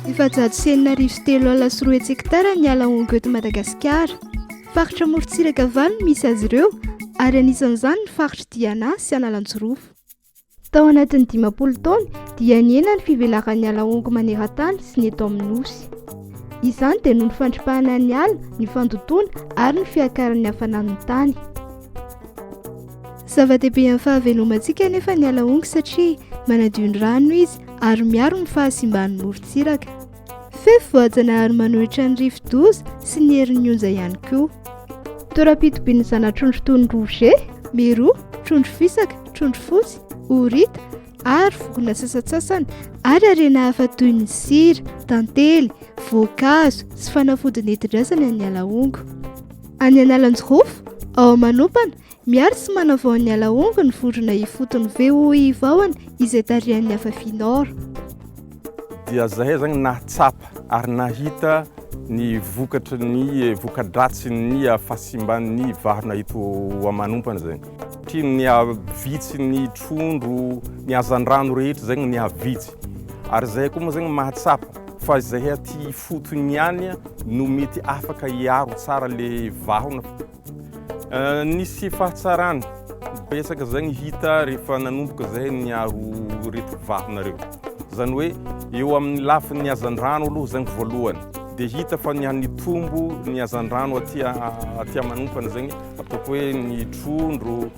Efajato sy enina arivo sy telo alina sy roa hetsy hekitara ny ala hongo eto Madagasikara. Faritra amorontsiraka valo no misy azy ireo ary anisan'izany ny faritry Diana sy Analanjirofo. Tao anatin'ny dimampolo taona dia nihena ny fivelaran'ny ala hongo maneran-tany sy ny eto amin'ny nosy. Izany dia noho ny fandripahana ny ala, ny fandotoana ary ny fiakaran'ny hafanan'ny tany. Zava-dehibe amin'ny fahavelomantsika anefa ny ala hongo satria manadio ny rano izy ary miaro ny fahasimban'ny morontsiraka. Fefy voajanahary manohitra ny rivodoza sy ny herin'ny onja ihany koa. Toeram-pitobian'ny zana-trondro toy ny rouge, miro, trondro fisaka, trondro fotsy, horita, ary vokona sasantsasany ary harena hafa toy ny sira, tantely, voankazo sy fanafody nentin-drazana ny alahongo. Any Analanjirofo, ao Manompana, Miaro sy manavao ny ala hongo ny vorona ifotony VOI Vahona izay tarihan'ny Afafi Nord. dia zahay zany nahatsapa ary nahita ny vokatry ny voka-dratsin'ny fahasimban'ny vahona eto amanompana zany. Satria nihavitsy ny trondro, ny hazandrano rehetra zany nihavitsy. Ary zahay koa moa zany mahatsapa fa zahay aty ifotony ihany no mety afaka hiaro tsara le vahona. Eh, nisy fahatsarana betsaka zay ny hita rehefa nanomboka zay niaro ireto vavinareo. Zany hoe eo amin'ny lafiny hazandrano aloha zany voalohany dia hita fa ny nitombo ny hazandrano aty aty manompana zegny ataoko hoe ny trondro